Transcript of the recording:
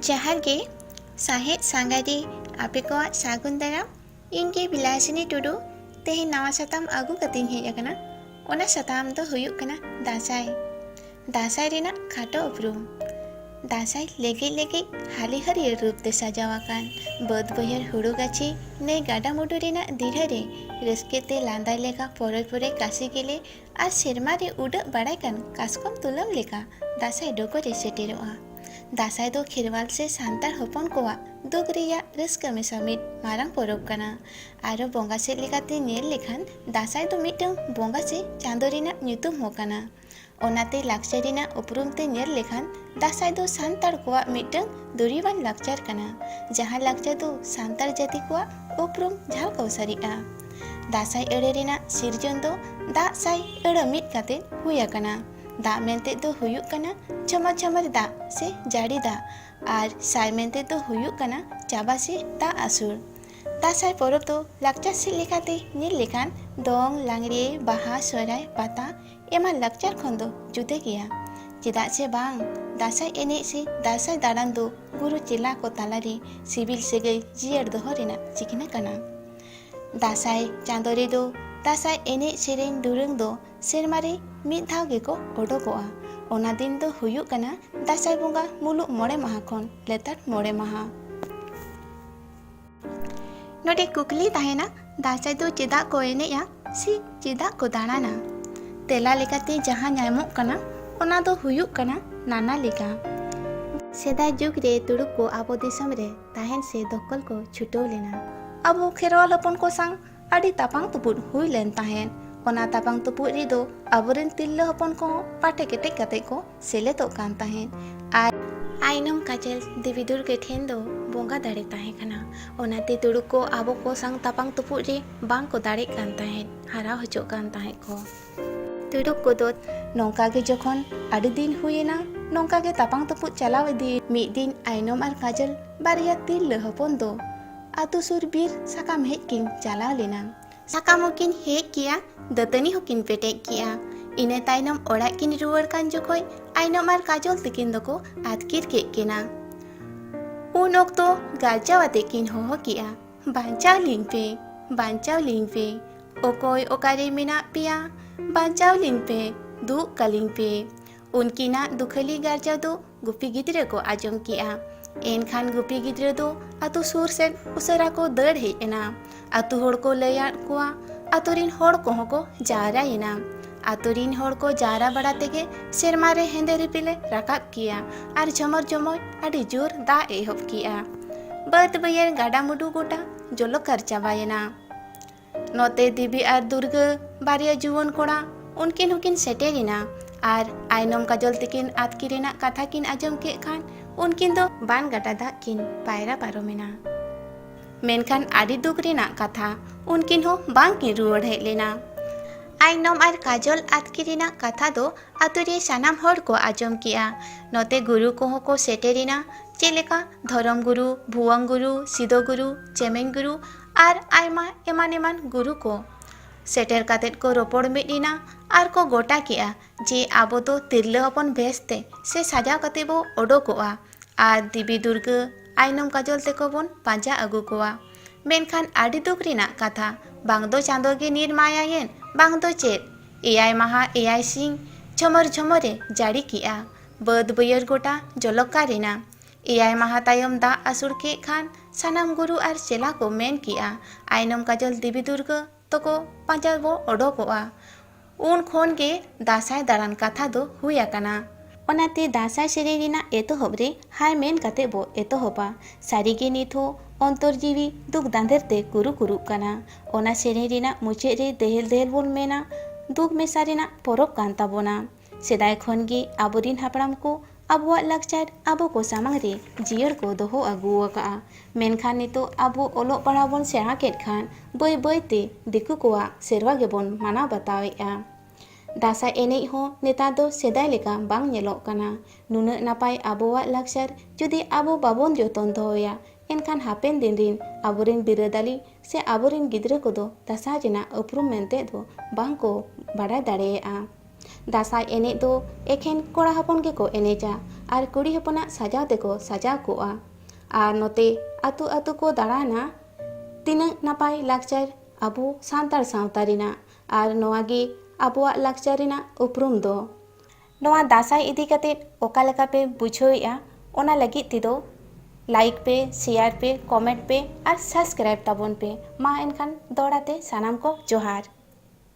ᱡᱟᱦᱟᱨ ᱜᱮ ᱥᱟᱦᱮᱫ ᱥᱟᱸᱜᱟᱨᱤ ᱟᱯᱮ ᱠᱚᱣᱟᱜ ᱥᱟᱹᱜᱩᱱ ᱫᱟᱨᱟᱢ ᱤᱧ ᱜᱮ ᱵᱤᱞᱟᱥᱤᱱᱤ ᱴᱩᱰᱩ ᱛᱮᱦᱮᱧ ᱱᱟᱣᱟ ᱥᱟᱛᱟᱢ ᱟᱹᱜᱩ ᱠᱟᱛᱮᱧ ᱦᱮᱡ ᱟᱠᱟᱱᱟ ᱚᱱᱟ ᱥᱟᱛᱟᱢ ᱫᱚ ᱦᱩᱭᱩᱜ ᱠᱟᱱᱟ ᱫᱟᱸᱥᱟᱭ ᱫᱟᱸᱥᱟᱭ ᱨᱮᱱᱟᱜ ᱠᱷᱟᱴᱚ ᱩᱯᱨᱩᱢ ᱫᱟᱸᱥᱟᱭ ᱞᱮᱜᱮᱡ ᱞᱮᱜᱮᱡ ᱦᱟᱹᱞᱤ ᱦᱟᱹᱨᱭᱟᱹᱲ ᱨᱩᱯ ᱛᱮ ᱥᱟᱡᱟᱣ ᱟᱠᱟᱱ ᱵᱟᱹᱫᱽ ᱵᱟᱹᱭᱦᱟᱹᱲ ᱦᱩᱲᱩ ᱜᱟᱹᱪᱷᱤ ᱱᱟᱹᱭ ᱜᱟᱰᱟ ᱢᱩᱰᱩ ᱨᱮᱱᱟᱜ ᱫᱤᱲᱦᱟᱹ ᱨᱮ ᱨᱟᱹᱥᱠᱟᱹ ᱛᱮ ᱞᱟᱸᱫᱟᱭ ᱞᱮᱠᱟ ᱯᱚᱨᱚᱭ ᱯᱚᱨᱚᱭ ᱠᱟᱥᱤ ᱜᱮᱞᱮ ᱟᱨ ᱥᱮᱨᱢᱟ ᱨᱮ ᱩᱰᱟᱹᱜ ᱵᱟᱲᱟᱭ ᱠᱟᱱ ᱠᱟᱥᱠᱚᱢ ᱛᱩᱞᱟᱹᱢ ᱞᱮᱠᱟ ᱫᱟᱸᱥᱟᱭ ᱰᱚᱜᱚᱨ ᱨᱮ ᱥᱮᱴᱮᱨᱚᱜᱼᱟ ᱫᱟᱸᱥᱟᱭ ᱫᱚ ᱠᱷᱮᱨᱣᱟᱞ ᱥᱮ ᱥᱟᱱᱛᱟᱲ ᱦᱚᱯᱚᱱ ᱠᱚᱣᱟᱜ ᱫᱩᱠ ᱨᱮᱭᱟᱜ ᱨᱟᱹᱥᱠᱟᱹ ᱢᱮᱥᱟ ᱢᱤᱫ ᱢᱟᱨᱟᱝ ᱯᱚᱨᱚᱵᱽ ᱠᱟᱱᱟ ᱟᱨᱚ ᱵᱚᱸᱜᱟ ᱥᱮᱫ ᱞᱮᱠᱟᱛᱮ ᱧᱮᱞ ᱞᱮᱠᱷᱟᱱ ᱫᱟᱸᱥᱟᱭ ᱫᱚ ᱢᱤᱫᱴᱟᱹᱝ ᱵᱚᱸᱜᱟ ᱥᱮ ᱪᱟᱸᱫᱚ ᱨᱮᱱᱟᱜ ᱧᱩᱛᱩᱢ ᱦᱚᱸ ᱠᱟᱱᱟ ᱚᱱᱟᱛᱮ ᱞᱟᱠᱪᱟᱨ ᱨᱮᱱᱟᱜ ᱩᱯᱨᱩᱢ ᱛᱮ ᱧᱮᱞ ᱞᱮᱠᱷᱟᱱ ᱫᱟᱥᱟᱸᱭ ᱫᱚ ᱥᱟᱱᱛᱟᱲ ᱠᱚᱣᱟᱜ ᱢᱤᱫᱴᱟᱹᱝ ᱫᱩᱨᱤᱵᱟᱱ ᱞᱟᱠᱪᱟᱨ ᱠᱟᱱᱟ ᱡᱟᱦᱟᱸ ᱞᱟᱠᱪᱟᱨ ᱫᱚ ᱥᱟᱱᱛᱟᱲ ᱡᱟᱹᱛᱤ ᱠᱚᱣᱟᱜ ᱩᱯᱨᱩᱢ ᱡᱷᱟᱞᱠ ᱚᱣᱥᱟᱨᱤᱜᱼᱟ ᱫᱟᱥᱟᱸᱭ ᱟᱹᱲᱟᱹ ᱨᱮᱱᱟᱜ ᱥᱤᱨᱡᱚᱱ ᱫᱚ ᱫᱟᱜ ᱥᱟᱭ ᱟᱹᱲᱟᱹ ᱢᱤᱫ ᱠᱟᱛᱮ ᱦᱩᱭ ᱟᱠᱟᱱᱟ ᱫᱟᱜ ᱢᱮᱱᱛᱮ ᱫᱚ ᱦᱩᱭᱩᱜ ᱠᱟᱱᱟ ᱡᱷᱚᱢᱚᱨ ᱡᱷᱚᱢᱚᱨ ᱫᱟᱜ ᱥᱮ ᱡᱟᱹᱲᱤ ᱫᱟᱜ ᱟᱨ ᱥᱟᱭ ᱢᱮᱱᱛᱮ ᱫᱚ ᱦᱩᱭᱩᱜ ᱠᱟᱱᱟ ᱪᱟᱵᱟ ᱥᱮ ᱫᱟᱜ ᱟᱹᱥᱩᱲ ᱫᱟᱸᱥᱟᱭ ᱯᱚᱨᱚᱵᱽ ᱫᱚ ᱞᱟᱠᱪᱟᱨ ᱥᱮᱫ ᱞᱮᱠᱟᱛᱮ ᱧᱮᱞ ᱞᱮᱠᱷᱟᱱ ᱫᱚᱝ ᱞᱟᱜᱽᱲᱮ ᱵᱟᱦᱟ ᱥᱚᱦᱨᱟᱭ ᱯᱟᱛᱟ ᱮᱢᱟᱱ ᱞᱟᱠᱪᱟᱨ ᱠᱷᱚᱱ ᱫᱚ ᱡᱩᱫᱟᱹ ᱜᱮᱭᱟ ᱪᱮᱫᱟᱜ ᱥᱮ ᱵᱟᱝ ᱫᱟᱸᱥᱟᱭ ᱮᱱᱮᱡ ᱥᱮ ᱫᱟᱸᱥᱟᱭ ᱫᱟᱬᱟᱱ ᱫᱚ ᱜᱩᱨᱩ ᱪᱮᱞᱟ ᱠᱚ ᱛᱟᱞᱟᱨᱮ ᱥᱤᱵᱤᱞ ᱥᱟᱹᱜᱟᱹᱭ ᱡᱤᱭᱟᱹᱲ ᱫᱚᱦᱚ ᱨᱮᱱᱟᱜ ᱪᱤᱠᱱᱟᱹ ᱠᱟᱱᱟ ᱫᱟᱸᱥᱟᱭ ᱪᱟᱸᱫᱚ ᱨᱮᱫᱚ ᱫᱟᱸᱥᱟᱭ ᱮᱱᱮᱡ ᱥᱮᱨᱮᱧ ᱫᱩᱨᱟᱹᱝ ᱫᱚ ᱥᱮᱨᱢᱟ ᱨᱮ ᱢᱤᱫ ᱫᱷᱟᱣ ᱜᱮᱠᱚ ᱚᱰᱚᱠᱚᱜᱼᱟ ᱚᱱᱟ ᱫᱤᱱ ᱫᱚ ᱦᱩᱭᱩᱜ ᱠᱟᱱᱟ ᱫᱟᱸᱥᱟᱭ ᱵᱚᱸᱜᱟ ᱢᱩᱞᱩᱜ ᱢᱚᱬᱮ ᱢᱟᱦᱟ ᱠᱷᱚᱱ ᱞᱮᱛᱟᱲ ᱢᱚᱬᱮ ᱢᱟᱦᱟ ᱱᱚᱰᱮ ᱠᱩᱠᱞᱤ ᱛᱟᱦᱮᱱᱟ ᱫᱟᱸᱥᱟᱭ ᱫᱚ ᱪᱮᱫᱟᱜ ᱠᱚ ᱮᱱᱮᱡᱼᱟ ᱥᱮ ᱪᱮᱫᱟᱜ ᱠᱚ ᱫᱟᱬᱟᱱᱟ ᱛᱮᱞᱟ ᱞᱮᱠᱟᱛᱮ ᱡᱟᱦᱟᱸ ᱧᱟᱢᱚᱜ ᱠᱟᱱᱟ ᱚᱱᱟ ᱫᱚ ᱦᱩᱭᱩᱜ ᱠᱟᱱᱟ ᱱᱟᱱᱟ ᱞᱮᱠᱟ ᱥᱮᱫᱟᱭ ᱡᱩᱜᱽ ᱨᱮ ᱛᱩᱲᱩᱠ ᱠᱚ ᱟᱵᱚ ᱫᱤᱥᱚᱢ ᱨᱮ ᱛᱟᱦᱮᱱ ᱥᱮ ᱫᱚᱠᱷᱚᱞ ᱠᱚ ᱪᱷᱩᱴᱟᱹᱣ ᱞᱮᱱᱟ ᱟᱵᱚ ᱠᱷᱮᱨᱣᱟᱞ ᱦᱚᱯᱚᱱ ᱠᱚ ᱥᱟᱶ ᱟᱹᱰᱤ ᱛᱟᱯᱟᱝ ᱛᱩᱯᱩᱫ ᱦᱩᱭ ᱞᱮᱱ ᱛᱟᱦᱮᱸᱫ ᱚᱱᱟ ᱛᱟᱯᱟᱝ ᱛᱩᱯᱩᱫ ᱨᱮᱫᱚ ᱟᱵᱚᱨᱮᱱ ᱛᱤᱨᱞᱟᱹ ᱦᱚᱯᱚᱱ ᱠᱚ ᱯᱟᱴᱮ ᱠᱮᱴᱮᱡ ᱠᱟᱛᱮ ᱠᱚ ᱥᱮᱞᱮᱫᱚᱜ ᱠᱟᱱ ᱛᱟᱦᱮᱸᱫ ᱟᱨ ᱟᱭᱱᱚᱢ ᱠᱟᱡᱚᱞ ᱫᱮᱵᱤ ᱫᱩᱨᱜᱟᱹ ᱴᱷᱮᱱ ᱫᱚ ᱵᱚᱸᱜᱟ ᱫᱟᱲᱮ ᱛᱟᱦᱮᱸ ᱠᱟᱱᱟ ᱚᱱᱟᱛᱮ ᱛᱩᱲᱩᱠ ᱠᱚ ᱟᱵᱚ ᱠᱚ ᱥᱟᱝ ᱛᱟᱯᱟᱝ ᱛᱩᱯᱩᱫ ᱨᱮ ᱵᱟᱝ ᱠᱚ ᱫᱟᱲᱮᱜ ᱠᱟᱱ ᱛᱟᱦᱮᱸᱫ ᱦᱟᱨᱟ ᱦᱚᱪᱚᱜ ᱠᱟᱱ ᱛᱟᱦᱮᱸᱫ ᱠᱚ ᱛᱩᱲᱩᱠ ᱠᱚᱫᱚ ᱱᱚᱝᱠᱟ ᱜᱮ ᱡᱚᱠᱷᱚᱱ ᱟᱹᱰᱤ ᱫᱤᱱ ᱦᱩᱭᱮᱱᱟ ᱱᱚᱝᱠᱟ ᱜᱮ ᱛᱟᱯᱟᱝ ᱛᱩᱯᱩᱫ ᱪᱟᱞᱟᱣ ᱤᱫᱤ ᱢᱤᱫ ᱫᱤᱱ ᱟᱭᱱᱚᱢ ᱟᱨ ᱠᱟᱡᱚᱞ ᱵᱟᱨᱭᱟ ᱛᱤᱨᱞᱟᱹ ᱦᱚᱯᱚᱱ ᱫᱚ ᱟᱛᱳ ᱥᱩᱨ ᱵᱤᱨ ᱥᱟᱠᱟᱢ ᱦᱮᱡ ᱠᱤᱱ ᱪᱟᱞᱟᱣ ᱞᱮᱱᱟ ᱥᱟᱠᱟᱢ ᱦᱚᱸᱠᱤᱱ ᱦᱮᱡ ᱠᱮᱜᱼᱟ ᱫᱟᱹᱛᱟᱹᱱᱤ ᱦᱚᱸᱠᱤᱱ ᱯᱮᱴᱮᱡ ᱠᱮᱜᱼᱟ ᱤᱱᱟᱹ ᱛᱟᱭᱱᱚᱢ ᱚᱲᱟᱜ ᱠᱤᱱ ᱨᱩᱣᱟᱹᱲ ᱠᱟᱱ ᱡᱚᱠᱷᱚᱡ ᱟᱭᱱᱚᱢ ᱟᱨ ᱠᱟᱡᱚᱞ ᱛᱤᱠᱤᱱ ᱫᱚᱠᱚ ᱟᱛᱠᱤᱨ ᱠᱮᱫ ᱠᱤᱱᱟ ᱩᱱ ᱚᱠᱛᱚ ᱜᱟᱨᱡᱟᱣ ᱟᱛᱮ ᱠᱤᱱ ᱦᱚᱦᱚ ᱠᱮᱜᱼᱟ ᱵᱟᱧᱪᱟᱣ ᱞᱤᱧ ᱯᱮ ᱵᱟᱧᱪᱟᱣ ᱞᱤᱧ ᱯᱮ ᱚᱠᱚᱭ ᱚᱠᱟᱨᱮ ᱢᱮᱱᱟᱜ ᱯᱮᱭᱟ ᱵᱟᱧᱪᱟᱣ ᱞᱤᱧ ᱯᱮ ᱫᱩᱜ ᱠᱟᱞᱤᱧ ᱯᱮ ᱩᱱᱠᱤᱱᱟᱜ ᱫᱩᱠᱷᱟᱹᱞᱤ ᱜᱟᱨᱡᱟᱣ ᱫᱚ ᱜᱩᱯᱤ ᱜᱤᱫᱽᱨᱟᱹ ᱠᱚ ᱟᱸᱡᱚᱢ ᱠᱮᱜᱼᱟ ᱮᱱᱠᱷᱟᱱ ᱜᱩᱯᱤ ᱜᱤᱫᱽᱨᱟᱹ ᱫᱚ ᱟᱛᱳ ᱥᱩᱨ ᱥᱮᱫ ᱩᱥᱟᱹᱨᱟ ᱠᱚ ᱫᱟᱹᱲ ᱦᱮᱡ ᱮᱱᱟ ᱟᱛᱳ ᱦᱚᱲ ᱠᱚ ᱞᱟᱹᱭᱟᱫ ᱠᱚᱣᱟ ᱟᱛᱳ ᱨᱤᱱ ᱦᱚᱲ ᱠᱚᱦᱚᱸ ᱠᱚ ᱡᱟᱣᱨᱟᱭᱮᱱᱟ ᱟᱛᱳ ᱨᱤᱱ ᱦᱚᱲ ᱠᱚ ᱡᱟᱣᱨᱟ ᱵᱟᱲᱟ ᱛᱮᱜᱮ ᱥᱮᱨᱢᱟ ᱨᱮ ᱦᱮᱸᱫᱮ ᱨᱤᱯᱤᱞᱮ ᱨᱟᱠᱟᱵ ᱠᱮᱜᱼᱟ ᱟᱨ ᱡᱷᱚᱢᱚᱨ ᱡᱷᱚᱢᱚᱨ ᱟᱹᱰᱤ ᱡᱳᱨ ᱫᱟᱜ ᱮᱦᱚᱵ ᱠᱮᱜᱼᱟ ᱵᱟᱹᱫᱽ ᱵᱟᱹᱭᱦᱟᱹᱲ ᱜᱟᱰᱟ ᱢᱩᱰᱩ ᱜᱚᱴᱟ ᱡᱚᱞᱚᱠᱟᱨ ᱪᱟᱵᱟᱭᱮᱱᱟ ᱱᱚᱛᱮ ᱫᱮᱵᱤ ᱟᱨ ᱫᱩᱨᱜᱟᱹ ᱵᱟᱨᱭᱟ ᱡᱩᱣᱟᱹᱱ ᱠᱚᱲᱟ ᱩᱱᱠᱤᱱ ᱦᱚᱸᱠᱤᱱ ᱥᱮᱴᱮᱨᱮᱱᱟ ᱟᱨ ᱟᱭᱱᱚᱢ ᱠᱟᱡᱚᱞ ᱛᱤᱠᱤᱱ ᱟᱛᱠᱤ ᱨᱮᱱᱟᱜ ᱠᱟᱛᱷᱟ ᱠᱤᱱ ᱟᱸᱡᱚᱢ ᱠᱮᱫ ᱠᱷᱟᱱ ᱩᱱᱠᱤᱱ ᱫᱚ ᱵᱟᱱ ᱜᱟᱰᱟ ᱫᱟᱜ ᱠᱤᱱ ᱯᱟᱭᱨᱟ ᱯᱟᱨᱚᱢᱮᱱᱟ ᱢᱮᱱᱠᱷᱟᱱ ᱟᱹᱰᱤ ᱫᱩᱠ ᱨᱮᱱᱟᱜ ᱠᱟᱛᱷᱟ ᱩᱱᱠᱤᱱ ᱦᱚᱸ ᱵᱟᱝᱠᱤᱱ ᱨᱩᱣᱟᱹᱲ ᱦᱮᱡ ᱞᱮᱱᱟ ᱟᱭᱱᱚᱢ ᱟᱨ ᱠᱟᱡᱚᱞ ᱟᱛᱠᱤ ᱨᱮᱱᱟᱜ ᱠᱟᱛᱷᱟ ᱫᱚ ᱟᱛᱳ ᱨᱮ ᱥᱟᱱᱟᱢ ᱦᱚᱲ ᱠᱚ ᱟᱸᱡᱚᱢ ᱠᱮᱜᱼᱟ ᱱᱚᱛᱮ ᱜᱩᱨᱩ ᱠᱚᱦᱚᱸ ᱠᱚ ᱥᱮᱴᱮᱨᱮᱱᱟ ᱪᱮᱫ ᱞᱮᱠᱟ ᱫᱷᱚᱨᱚᱢ ᱜᱩᱨᱩ ᱵᱷᱩᱣᱟᱹᱝ ᱜᱩᱨᱩ ᱥᱤᱫᱚ ᱜᱩᱨᱩ ᱪᱮᱢᱮᱧ ᱜᱩᱨᱩ ᱟᱨ ᱟᱭᱢᱟ ᱮᱢᱟᱱ ᱮᱢᱟᱱ ᱜᱩᱨᱩ ᱠᱚ ᱥᱮᱴᱮᱨ ᱠᱟᱛᱮ ᱠᱚ ᱨᱚᱯᱚᱲ ᱢᱤᱫ ᱮᱱᱟ ᱟᱨ ᱠᱚ ᱜᱚᱴᱟ ᱠᱮᱫᱼᱟ ᱡᱮ ᱟᱵᱚ ᱫᱚ ᱛᱤᱨᱞᱟᱹ ᱦᱚᱯᱚᱱ ᱵᱷᱮᱥ ᱛᱮ ᱥᱮ ᱥᱟᱡᱟᱣ ᱠᱟᱛᱮ ᱵᱚ ᱚᱰᱚᱠᱚᱜᱼᱟ ᱟᱨ ᱫᱮᱵᱤ ᱫᱩᱨᱜᱟᱹ ᱟᱭᱱᱚᱢ ᱠᱟᱡᱚᱞ ᱛᱮᱠᱚ ᱵᱚᱱ ᱯᱟᱸᱡᱟ ᱟᱹᱜᱩ ᱠᱚᱣᱟ ᱢᱮᱱᱠᱷᱟᱱ ᱟᱹᱰᱤ ᱫᱩᱠ ᱨᱮᱱᱟᱜ ᱠᱟᱛᱷᱟ ᱵᱟᱝ ᱫᱚ ᱪᱟᱸᱫᱚ ᱜᱮ ᱱᱤᱨ ᱢᱟᱭᱟᱭᱮᱱ ᱵᱟᱝ ᱫᱚ ᱪᱮᱫ ᱮᱭᱟᱭ ᱢᱟᱦᱟ ᱮᱭᱟᱭ ᱥᱤᱧ ᱡᱷᱚᱢᱚᱨ ᱡᱷᱚᱢᱚᱨᱮ ᱡᱟᱹᱲᱤ ᱠᱮᱫᱼᱟ ᱵᱟᱹᱫᱽ ᱵᱟᱹᱭᱦᱟᱹᱲ ᱜᱚᱴᱟ ᱡᱚᱞᱚᱠᱟᱨ ᱮᱱᱟ ᱮᱭᱟᱭ ᱢᱟᱦᱟ ᱛᱟᱭᱚᱢ ᱫᱟᱜ ᱟᱹᱥᱩᱲ ᱠᱮᱫ ᱠᱷᱟᱱ ᱥᱟᱱᱟᱢ ᱜᱩᱨᱩ ᱟᱨ ᱪᱮᱞᱟ ᱠᱚ ᱢᱮᱱ ᱠᱮᱫᱼᱟ ᱟᱭᱱᱚᱢ ᱠᱟᱡᱚᱞ ᱫᱮᱵᱤ ᱫᱩᱨᱜᱟᱹ ᱛᱚᱠᱚ ᱯᱟᱸᱡᱟ ᱵᱚ ᱚᱰᱚᱠᱚᱜᱼᱟ ᱩᱱ ᱠᱷᱚᱱ ᱜᱮ ᱫᱟᱥᱟᱭ ᱫᱟᱬᱟᱱ ᱠᱟᱛᱷᱟ ᱫᱚ ᱦᱩᱭ ᱟᱠᱟᱱᱟ ᱚᱱᱟᱛᱮ ᱫᱟᱥᱟᱭ ᱥᱮᱨᱮᱧ ᱨᱮᱱᱟᱜ ᱮᱛᱚᱦᱚᱵ ᱨᱮ ᱦᱟᱭ ᱢᱮᱱ ᱠᱟᱛᱮ ᱵᱚ ᱮᱛᱚᱦᱚᱵᱟ ᱥᱟᱹᱨᱤ ᱜᱮ ᱱᱤᱛ ᱦᱚᱸ ᱚᱱᱛᱚᱨ ᱡᱤᱣᱤ ᱫᱩᱠ ᱫᱟᱸᱫᱮᱨ ᱛᱮ ᱠᱩᱨᱩ ᱠᱩᱨᱩᱜ ᱠᱟᱱᱟ ᱚᱱᱟ ᱥᱮᱨᱮᱧ ᱨᱮᱱᱟᱜ ᱢᱩᱪᱟᱹᱫ ᱨᱮ ᱫᱮᱦᱮᱞ ᱫᱮᱦᱮᱞ ᱵᱚᱱ ᱢᱮᱱᱟ ᱫᱩᱠ ᱢᱮᱥᱟ ᱨᱮᱱᱟᱜ ᱯᱚᱨᱚᱵᱽ ᱠᱟᱱ ᱛᱟᱵᱚᱱᱟ ᱥᱮᱫᱟᱭ ᱠᱷᱚᱱ ᱜᱮ ᱟᱵᱚ ᱨᱤᱱ ᱦᱟᱯᱲᱟᱢ ᱠᱚ ᱟᱵᱚᱣᱟᱜ ᱞᱟᱠᱪᱟᱨ ᱟᱵᱚ ᱠᱚ ᱥᱟᱢᱟᱝ ᱨᱮ ᱡᱤᱭᱟᱹᱲ ᱠᱚ ᱫᱚᱦᱚ ᱟᱹᱜᱩ ᱟᱠᱟᱫᱼᱟ ᱢᱮᱱᱠᱷᱟᱱ ᱱᱤᱛᱚᱜ ᱟᱵᱚ ᱚᱞᱚᱜ ᱯᱟᱲᱦᱟᱣ ᱵᱚᱱ ᱥᱮᱬᱟ ᱠᱮᱫ ᱠᱷᱟᱱ ᱵᱟᱹᱭ ᱵᱟᱹᱭ ᱛᱮ ᱫᱤᱠᱩ ᱠᱚᱣᱟᱜ ᱥᱮᱨᱣᱟ ᱜᱮᱵᱚᱱ ᱢᱟᱱᱟᱣ ᱵᱟᱛᱟᱣᱮᱫᱼᱟ ᱫᱟᱸᱥᱟᱭ ᱮᱱᱮᱡ ᱦᱚᱸ ᱱᱮᱛᱟᱨ ᱫᱚ ᱥᱮᱫᱟᱭ ᱞᱮᱠᱟ ᱵᱟᱝ ᱧᱮᱞᱚᱜ ᱠᱟᱱᱟ ᱱᱩᱱᱟᱹᱜ ᱱᱟᱯᱟᱭ ᱟᱵᱚᱣᱟᱜ ᱞᱟᱠᱪᱟᱨ ᱡᱩᱫᱤ ᱟᱵᱚ ᱵᱟᱵᱚᱱ ᱡᱚᱛᱚᱱ ᱫᱚᱦᱚᱭᱟ ᱮᱱᱠᱷᱟᱱ ᱦᱟᱯᱮᱱ ᱫᱤᱱ ᱨᱤᱱ ᱟᱵᱚ ᱨᱤᱱ ᱵᱤᱨᱟᱹᱫᱟᱹᱞᱤ ᱥᱮ ᱟᱵᱚ ᱨᱤᱱ ᱜᱤᱫᱽᱨᱟᱹ ᱠᱚᱫᱚ ᱫᱟᱸᱥᱟᱭ ᱨᱮᱱᱟᱜ ᱩᱯᱨᱩᱢ ᱢᱮᱱᱛᱮ ᱫᱚ ᱵᱟᱝ ᱠᱚ ᱵᱟᱰᱟᱭ ᱫᱟᱲᱮᱭᱟᱜᱼᱟ ᱫᱟᱸᱥᱟᱭ ᱮᱱᱮᱡ ᱫᱚ ᱮᱠᱷᱮᱱ ᱠᱚᱲᱟ ᱦᱚᱯᱚᱱ ᱜᱮᱠᱚ ᱮᱱᱮᱡᱟ ᱟᱨ ᱠᱩᱲᱤ ᱦᱚᱯᱚᱱᱟᱜ ᱥᱟᱡᱟᱣ ᱛᱮᱠᱚ ᱥᱟᱡᱟᱣ ᱠᱚᱜᱼᱟ ᱟᱨ ᱱᱚᱛᱮ ᱟᱹᱛᱩ ᱟᱹᱛᱩ ᱠᱚ ᱫᱟᱬᱟᱱᱟ ᱛᱤᱱᱟᱹᱜ ᱱᱟᱯᱟᱭ ᱞᱟᱠᱪᱟᱨ ᱟᱵᱚ ᱥᱟᱱᱛᱟᱲ ᱥᱟᱶᱛᱟ ᱨᱮᱱᱟᱜ ᱟᱨ ᱱᱚᱣᱟ ᱜᱮ ᱟᱵᱚᱣᱟᱜ ᱞᱟᱠᱪᱟᱨ ᱨᱮᱱᱟᱜ ᱩᱯᱨᱩᱢ ᱫᱚ᱾ ᱱᱚᱣᱟ ᱫᱟᱸᱥᱟᱭ ᱤᱫᱤ ᱠᱟᱛᱮ ᱚᱠᱟ ᱞᱮᱠᱟ ᱯᱮ ᱵᱩᱡᱷᱟᱹᱣᱮᱜᱼᱟ ᱚᱱᱟ ᱞᱟᱹᱜᱤᱫ ᱛᱮᱫᱚ ᱞᱟᱭᱤᱠ ᱯᱮ, ᱥᱮᱭᱟᱨ ᱯᱮ, ᱠᱚᱢᱮᱸᱴ ᱯᱮ ᱟᱨ ᱥᱟᱵᱥᱠᱨᱟᱭᱤᱵᱽ ᱛᱟᱵᱚᱱ ᱯᱮ᱾ ᱢᱟ ᱮᱱᱠᱷᱟᱱ ᱫᱚᱦᱲᱟ ᱛᱮ ᱥᱟᱱᱟᱢ ᱠᱚ ᱡᱚᱦᱟᱨ᱾